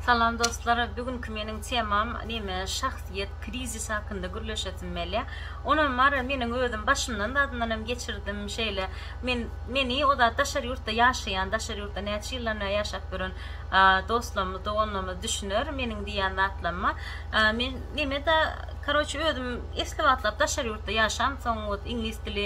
Salam dostlar, bugünkü meniň temam neme şahsyýet krizisi hakynda gürleşesim gelýär. Ony mara meniň özüm başymdan zadyndan hem geçirdim. Şeýle men meni o zat daşary ýurtda ýaşaýan, daşary ýurtda näçe ýyldan bäri ýaşap ýören dostlarymyz, doganlarymyz düşüner meniň diýýän zatlaryma. Men nemeda karoçe özüm esli wagtlap daşary ýurtda ýaşam soň ot iňlis dili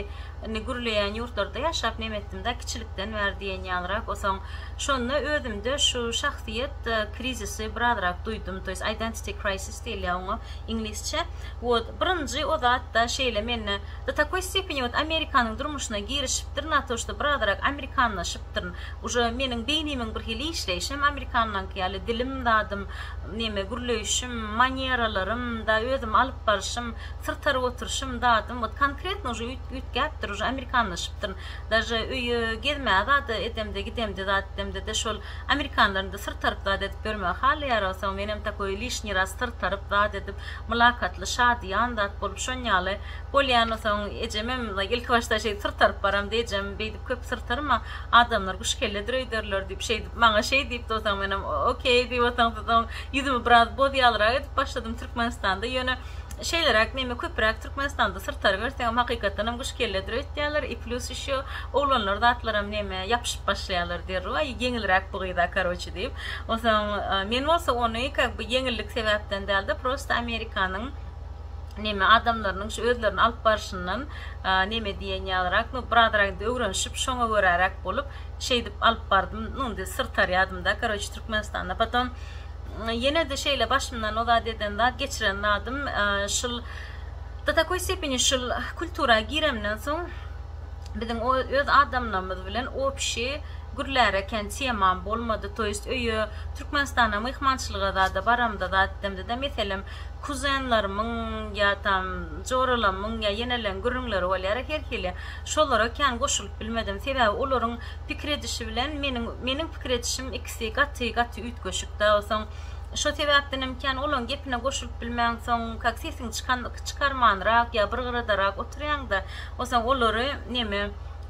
ni gürleýän ýurtlarda ýaşap nem etdimda kiçilikden bäri diýen ýalyrak osoň şonda özümde şu şahsyýet krizisi birazrak duýdum to ýest identity crisis diýilýä oňa iňlisçe ot birinji o zatda şeýle mende do takoý stepeni ot amerikanyň durmuşyna girişipdir na to şda birazrak amerikanlaşyp ýatyrypdyryn. Uje meniň beýnimiň bir hili işleýşi hem amerikanlaňky ýaly, dilim, zadym, neme, gürleýşim, maneralarym, da özümi alyp barşym, syrtaryp oturşym, zadym, wot konkretno uje üýtgäpdir, uje amerikanlaşypdyryn. Daže öýe gezmäge zat edemde, gidemde, zat edemde-de şol amerikanlaryňda syrtaryp zat edip ýörmegi halaýarogsa, menem takoý lişniý raz syrtaryp zat edip, mylakatly, şadyýan zat bolup, şon ýaly bolýan, onsoň ejemem ilki başda şeýdip syrtaryp baramda, ejem beýdip, köp syrtarma adamlar guş kelledir öýderler diýip şeýdip maňa şeý diýipdi osaň menem okey diýip osaň soň ýüzümi biraz bozýalrak edip başladym türkmenistanda ýöne şeýleräk neme köpüräk türkmenistanda syrtaryberseňem hakykatdanam guş kelledir öýtýärler i plýus ýşo oglanlar zatlaram neme ýapyşyp başlaýarlar derrew aý ýeňilräk bu gyza karoçe diýip osaň men bolsa ony kak by ýeňillik sebäpden dälde prosta amerikanyň neme adamlarynyň şu özlerini alyp barşyndan neme diýen ýalyrak nu bir azrak indi öwrenişip şoňa göräräk bolup şeýdip alyp bardym nu indi syr tarýadymda karoçe türkmenistanda potom ýenede şeýle başymdan o zat eden zat geçiren zadym şul do takoý stepeni şul kultura giremden soň biziň o öz adamlarymyz bilen opşi gürläre kän temam bolmady to ýest öýe türkmenistana myhmançylyga zada baramda zat demdida meselem Kuzenlerimiň ýa-tam joralamyň ýa ýeneleň gürrüňleri bolýara her hili. Şolara kän goşulyp bilmedim. Sebäbi olaryň pikir edişi bilen meniň meniň pikir edişim ikisi gaty gaty üýtgeşik dagy soň. Şo sebäpdenem kän olaň gepine goşulyp bilmen soň kak sesiňi çykan çykarmanrak ýa bir gyradarak oturýaňda o soň olary neme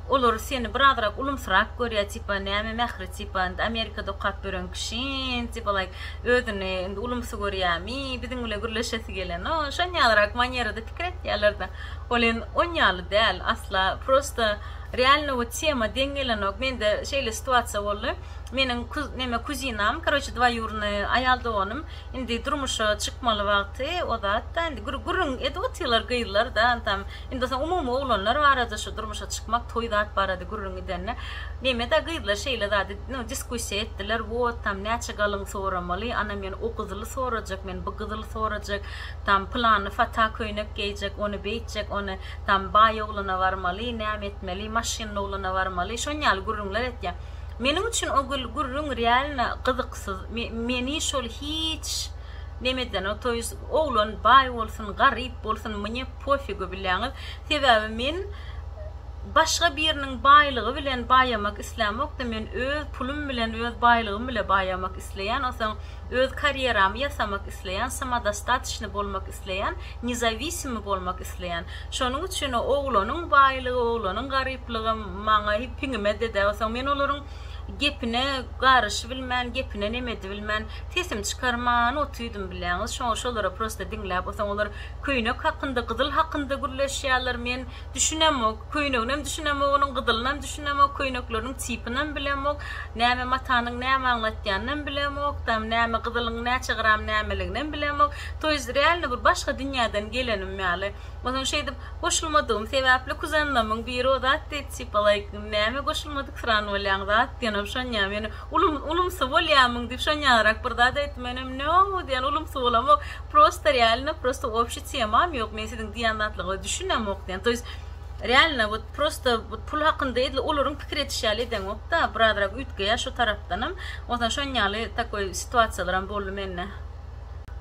Olar seni birazrak ulumsyrak görýär tipa näme mähri tipa indi amerikada okap ýören kişiň tipa like özüni indi ulumsy görýämi biziň bile gürleşesi gelen no şon ýalyrak manýerada pikir etýärlerde ol en on ýaly däl asla prosta realno we tema deň gelenok mende şeýle situasiýa boldy meniň neme kuzinam karoçe dwaýurny aýal doganym indi durmuşa çykmaly wagty ozatda indi gürrüň edip otyrlar gyzlar da tam Indi bolsa umumy oglanlar barada şu durmuşa çykmak toý zat barada gürrüň gidende Mehmeda gyzlar şeýle zady no diskussiýa etdiler wot tam näçe galyň soramaly ana men o gyzyly sorajak men bu gyzyly sorajak tam pylany fata köýnek geýjek ony beýtjek ony tam baý oglana barmaly näme etmeli maşynly oglana barmaly şon ýaly gürrüňler etýä meniň üçin o gürrüň realno gyzyksyz meni şol hiç Nemedeno toýys oglan baý bolsun garyp bolsun mnye pofigu bileňiz sebäbi men başga biriniň baýlygy bilen baýamak islämokda men öz pulum bilen öz baýlygym bile baýamak isleýän osaň öz karýeramy ýasamak isleýän samodostatyçny bolmak isleýän nezawisimi bolmak isleýän şonuň üçin oglanyň baýlygy oglanyň garyplygy maňa hipiňime dede osaň men olaryň Gepine garyşybilmän, gepine nemedibilmän, sesim çykarman otydym bilýäňiz. Şoňa şolary prosta diňläp o soň olar köýnek hakynda, gyzyl hakynda gürleşýärler. Men düşünemok. Köýneginem düşünemok onuň, gyzylynam düşünemok, köýnekleriniň tipinam bilemok. Näme matanyň näme aňlatýanynam bilemok. Tam näme gyzylyň näçe gram nämeliginem bilemok. To ýest realno bir başga dünýäden gelenim ýaly. O soň şeýdip goşulmadygym sebäpli kuzanlamyň biri o zat diýdi, tipa laýk näme goşulmadyk. Tyran bolýaň zat diýenem şonýa men ulum ulumsy bolýamyň diýip şonýarak bir zat aýtdym menem no diýen ulumsy bolamok prosta realno prosta obşi temam ýok men siziň diýen zatlaryňyza düşünemok diýen toýs realno wot prosta wot pul hakynda edil olaryň pikir ediş ýaly edeňokda birazrak üýtgeýä şu tarapdanam onsoň şonýaly takoý situasiýalaram boldy mende.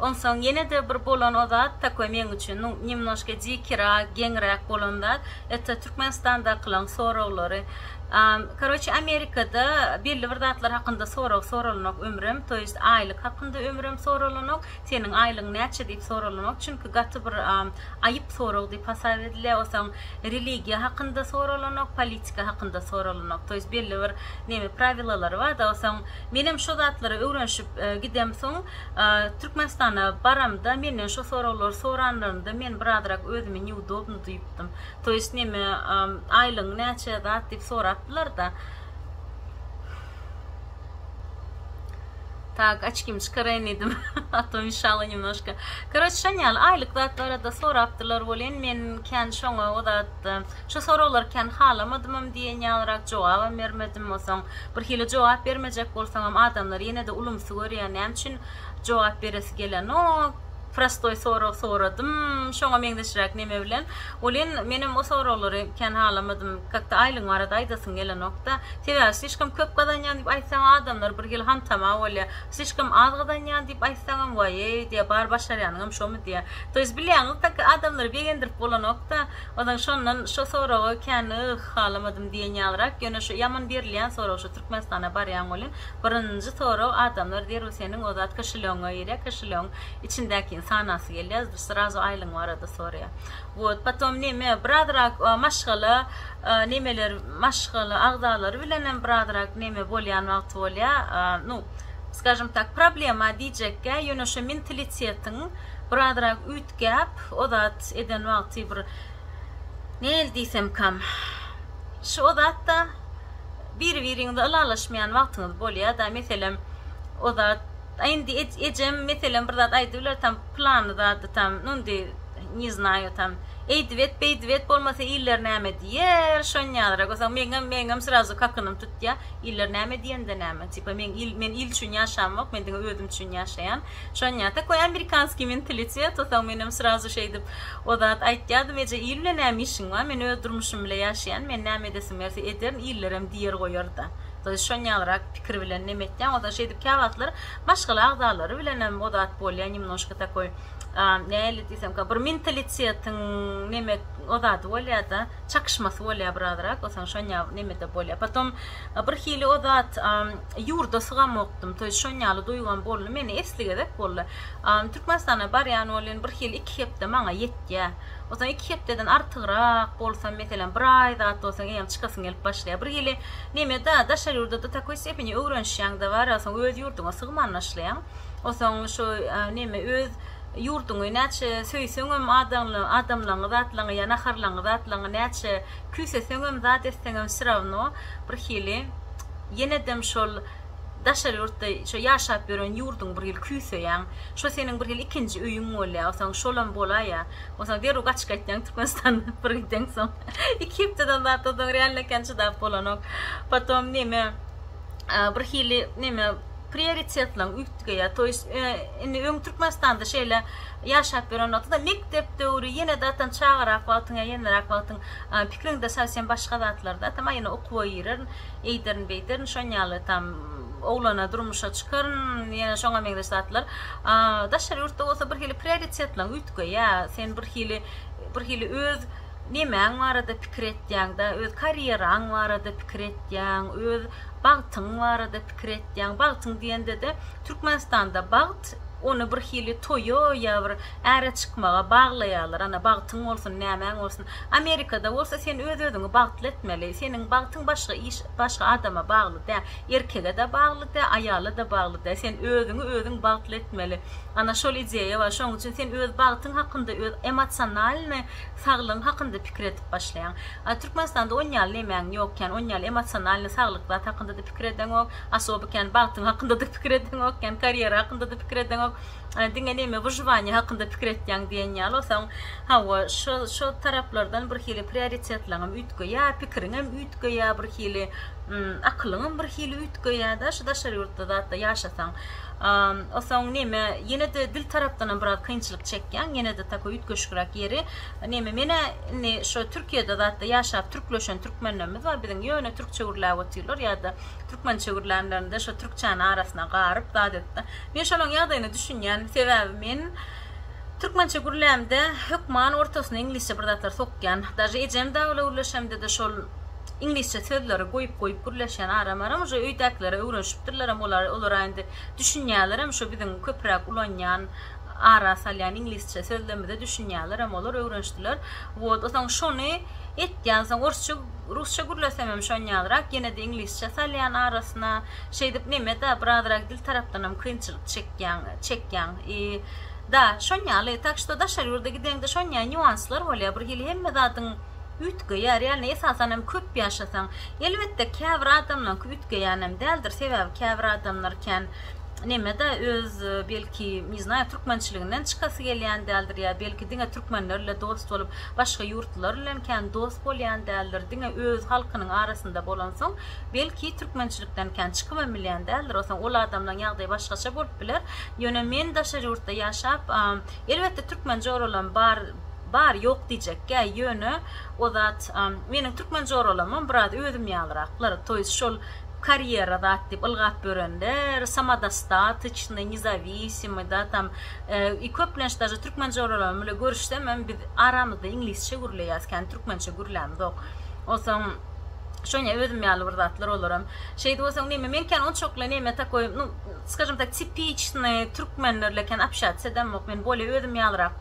Onsoň ýene-de bir bolan o zat takoý meň üçin, nu, nemnoşka dikira, geňräk bolan zat, eto Türkmenistandakylaň soraglary. A, karoçe, Amerikada belli bir zatlar hakynda sorag soralanok ömrem, to ýest aýlyk hakynda ömrem soralanok, seniň aýlygyň näçe diýip soralanok, çünki gaty bir a, aýyp sorag diýip hasap edilýär, osaň religiýa hakynda soralanok, politika hakynda soralanok, to ýest belli bir neme, prawilalary bar-da, osaň. Menem şo zatlary öwrenşip gidemsoň Türkmenistana baramda menden şo soraglary soranlarynda men birazrak özümi neudobno duýupdym. To ýest neme aýlygyň näçe zat diýip sorapdylarda. Tak açkimi çykaraýyn diýdim a to mişalo nemnoşka. Koroçe şon ýaly aýlyk zat barada sorapdylar welin men kän şoňa o zat çykdy. Şu soraglar kän halamadymam diýen ýalyrak jogabam bermedim. Onsoň, birhili jogap bermejek bolsaňam adamlar ýene-de ulumsy görýär, näme üçin jogap beresi gelenok? Prostoý sorag soradym, şoňa meňzeşräk neme bilen? Welin, menem o soraglary kän halamadym. Kakda aýlygyň barada aýdasyň gelenok-da. Sebäbi slişkom köp gazanýan diýip aýtsaňam adamlar birhili hantama bolýar. Slişkom az gazanýan diýip aýtsaňam, waý-eý diýýär, bar başarýanyňam şomy diýýär. Toýs bilýän ykdaki adamlary begendirip bolanokda, ozan şondan şo soraga kän yh halamadym diýen ýalyrak, ýöne şo ýaman berilýän sorag şo Türkmenistana barýaň welin birinji sorag adamlar zerur seniň ozat kişiligiňe girýär kişiligiň içindäkini sanasy gelýär srazu aýlygyň barada soraýar wot potom neme birazrak maşgala nemeler maşgala agzalary bilenem birazrak neme bolýan wagty bolýar nu skažem tak problema diýjekkä ýöne şo mintilitetiň Birazrak üýtgäp, o zat eden wagty bir näl diýsemkam, şu o zatda biri-biriňize ylalaşmaýan wagtyňyz bolýa-da, meselem, o zat, a indi ejem, meselem, bir zat aýdyp biler tam, plany zady tam, nu indi, ne znaju tam, eýdip et, beýdip et, bolmasa iller näme diýer, şonýalara görseň, meňem, meňem srazu kakynym tutýa, iller näme diýende näme, tipa, men il, men il üçin ýaşamok, men diňe özüm üçin ýaşaýan. Şonýa tak we amerikanskiý mentalitet, o sag menem srazu şeýdip o zat aýtýadym eje il bilen näme işiň bar men öz durmuşym bile ýaşaýan men näme edesim gelse ederin illerem diýer goýarda to ýest şonýalrak pikir bilen neme etýäň ozan şeýdip käwagtlar maşgala agzalary bilenem o zat bolýa nemnoşka takoý näli diýsemka bir mentalitetiň neme o zady bolýada çakyşmasy bolýa biraz rak o soň şonýa nemede bolýa potom bir hili o zat. Ýurda sygamokdym, toý şon ýaly duýgam boldy meni esli gezek boldy. Türkmenistana barýan bolýan bir hili iki hepde maňa ýetýä. Osaň iki hepdeden artygrak bolsam meselem bir aý zat bolsaň eýýäm çykasyn gelip başlaýa. Bir hili nemeda daşary ýurda do takoý stepeni öwrenişýäň da bar osaň öz ýurduňa sygman naşlaýaň. Osaň şo neme öz ýurduňy näçe söýseňem adaňly adamlaňy zatlaňy ýa naharlaňy zatlaňy näçe Küýseseňem zat etseňem wsyravno bir hili ýenedem şol daşary ýurtda şo ýaşap ýören ýurduň bir hili küýseýäň şo seniň bir hili ikinji öýüň bolýa onsoň şolam bolaýýa onsoň derrew gaçyp gaýtýaň türkmenistandan bir giden soň iki hepdeden zat onsoň realno ekeni çydap bolanok potom neme bir hili neme prioritetleň üýtgeýä to ýest indi öň türkmenistanda şeýle ýaşap ýören wagtyda mekdep döwri ýene datan çagarak wagtyň ýa ýenerak wagtyň pikriňde sowsem başga zatlarda atam aýna okuwa girerin eýderin beýderin şonýaly tam oglana durmuşa çykaryn ýene şoňa meňzeş zatlar daşary ýurtda bolsa bir hili prioritetleň üýtgeýä sen bir hili bir hili öz nemäň barada pikir etýäňdä öz karýeraň barada pikir etýäň öz bagtyň barada pikir etýäň bagtyň diýendede türkmenistanda bagt Ony bir hili toýa ýa bir äre çykmaga baglaýarlar, ana, bagtyň bolsun, nämäň bolsun. Amerikada bolsa sen öz-özüňi bagtly etmeli. Seniň bagtyň başga iş, başga adama bagly dä. Erkege-de bagly dä, aýala-da bagly dä. Sen özüňi özüň bagtly etmeli. Ana, şol ideýa bar. Şonuň üçin sen öz bagtyň hakynda, öz emosionalnyý saglygyň hakynda pikir edip başlaýaň. A Türkmenistanda on ýaly nemäň ýokýan, on ýaly emosionalnyý saglyk zat hakynda-da pikir edeňok. Osoby kän bagtyň hakynda-da pikir edeňok, kän karýera hakynda-da pikir edeňok. Diňe näme, wyžywaniýe hakynda pikir etýäň diýen ýaly. Onsoň, hawa, şo-şo taraplardan birhili prioritetleňem üýtgeýär, pikiriňem üýtgeýär birhili, akylyňam birhili üýtgeýär-de, şu daşary ýurtda zat-da ýaşasaň. Onsoň näme, ýene-de dil tarapdanam biraz kynçylyk çekýäň, ýene-de tako üýtgeşikräk ýeri, näme, men-ä indi şo Türkiýede zat-da ýaşap türkleşen türkmenlerimiz bar, biziň ýöne türkçe gürläp otyrlar ýa-da, Türkmençe gürlänlerinde şo türkçäni arasyna garyp zat etdi. Men şolaň ýagdaýyna düşünýän. Sebäbi men türkmençe gürlämde hökman ortasyna iňlisçe bir zatlar sokýan. Daže ejem dawla gürleşemde-de şol iňlisçe sözleri goýup-goýup gürleşýän aram-aram uje öýdäkilere öwrenşipdirlerem olar olara indi düşünýälerem şo biziň köpräk ulanýan ara salýan iňlisçe sözlerimize düşünýärlerem olar öwrenşdiler wot osaň şony etýänsoň orsça rusça gürlesemem şonýalrak ýenede iňlisçe salýan arasyna şeýdip nemeda birazrak dil tarapdanam kynçylyk çekýäň çekýäň i da şonýaly tak şto daşary ýurda gideňde şonýa nýuanslar bolýa birhili hemme zadyň Üýtgeýär, ýagny esasan hem köp ýaşasaň. Elbetde käbir adamlaňky üýtgeýänem däldir, sebäbi käbir adamlar kän nemede öz belki ne znâyo türkmençiliginden çykasy gelýän däldir ýa belki diňe türkmenlerle dost bolup başga ýurtlular bilen kän dost bolýan däldir diňe öz halkynyň arasynda bolansoň belki türkmençilikden kän çykybam bilýän däldir osaň ol adamlaň ýagdaýy başgaça bolup biler ýöne men daşary ýurtda ýaşap elbetde türkmen joralam bar Bar, ýok diýjekkä, ýöne o zat, meniň türkmen joralamam biraz özüm ýalyraklar, to ýest şol karýera zat diýip ylgap ýörenler, samodostatçnyý, nezawisimyý da tam, i köplenç daže türkmen joralarym bile görüşsemem biz aramyzda iňlisçe gürleýäs, kän türkmençe gürlämzok. Onsoň şoňa özüm ýaly bir zatlar olaram. Şeýdi bolsaň neme, men kän onçakly neme takoý, nu, skajim tak, tipiçnyý türkmenlerle kän apşýatis edemok, men bolýa özüm ýalyrak.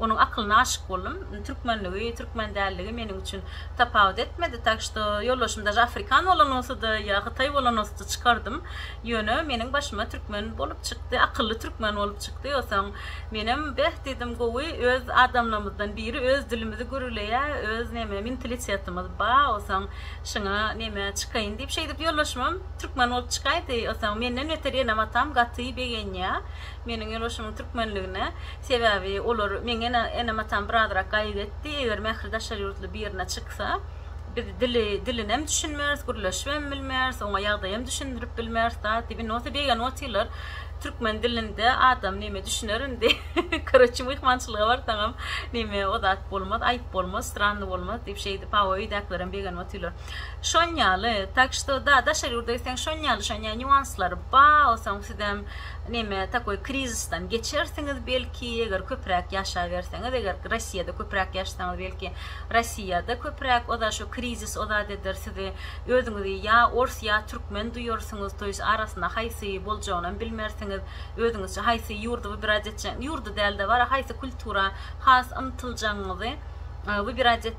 Onuň akylyna aşyk boldum. Türkmenligi, türkmen däldigi meniň üçin tapawut etmedi. Tak što, ýoldaşym daže afrikan bolan bolsady ýa hytaý bolan bolsady çykardym. Ýöne meniň başyma türkmen bolup çykdy, akylly türkmen bolup çykdy. Osaň menem beh diýdim, gowy öz adamlarymyzdan biri öz dilimizi gürleýä, öz neme mentalitetimiz ba, osaň şyňa neme çykaýyn diýip şeýdip ýoldaşymam türkmen bolup çykaýdy. Osaň menden beter enem-atam gaty begenýä. Meniň ýolbaşymyň türkmenligine, sebäbi olar meň enem atam birazrak gaýgy etdi, eger Mähri daşary ýurtly birine çyksa, biz dili dilinem düşünmeris, gürleşibem bilmeris, oňa ýagdaýam düşündirip bilmeris zat diýip, indi bolsa begany otyrlar, türkmen dilinde adam neme düşüner indi, koroçi myhmançylyga barsaňam neme o zat bolmaz, aýyp bolmaz, stranny bolmaz diýip şeýdip, hawa öýdäkilerem begenip otyrlar. Şon ýaly tak što da daşary ýurda gitseň şon ýaly şon ýaly nýuanslary ba soň sizem neme takoý krizisdan geçersiňiz belki eger köpräk ýaşaberseňiz eger rossiýada köpräk ýaşasaňyz belki rossiýada köpräk oza şo krizis ozat eder sizi özüňizi ýa ors ýa türkmen duýarsyňyz toýs arasynda haýsy boljagynam bilmersiňiz özüňizçe haýsy ýurdy wybirad etjek ýurdy dälde bara haýsy kultura has ymtyljagyňyzy wybirad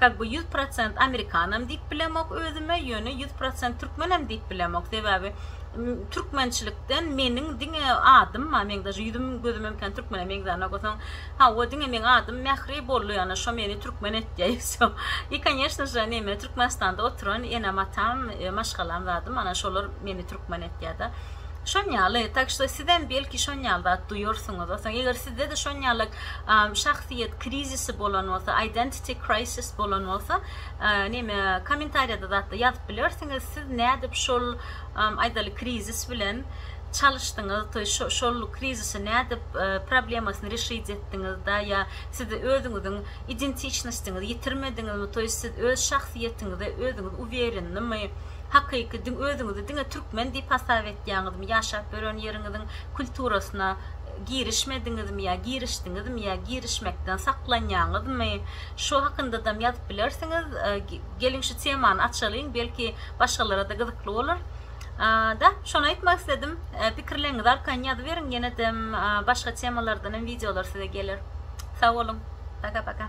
Kak bu ýüz prosent amerikanam diýip bilemok özüme ýöne ýüz prosent türkmenem diýip bilemok sebäbi türkmençilikden meniň diňe adym ma meň daže ýüzüm gözümem kän türkmene meňzänok osaň hawa diňe meň adym mähri bolly ýana şo meni türkmen etýä i wse i konýeşno je neme türkmenistanda oturan enem atam maşgalam zadym ana şolar meni türkmen etýä da şon ýaly tak şto sizem belki şon ýaly zat duýarsyňyz osaň eger sizde-de şon ýalak şahsyýet krizisi bolan bolsa aýdent T crisis bolan bolsa neme komentariýada zatda ýazyp bilersiňiz siz nädip şol aýdaly krizis bilen çalyşdyňyz toýy şol krizisi nädip problemasyny reşit etdiňiz da ýa siz özüňiziň identiçnostiňizi ýitirmediňizmi toýy siz öz şahsyýetiňize özüňiz uwerennimi hakyky özüňizi diňe türkmen diýip hasap etýäňizmi ýaşap ýören ýeriňiziň kulturasyna girişmediňizmi ýa girişdiňizmi ýa girişmekden saklanýaňyzmy şu hakyndadam ýazyp bilersiňiz geliň şu temany açalyň belki başgalarada gyzykly bolar da şony aýtmak isledim pikirleriňizi arkaýyn ýazyberiň ýenedem başga temalardanam wideolar size geler sag boluň paka paka.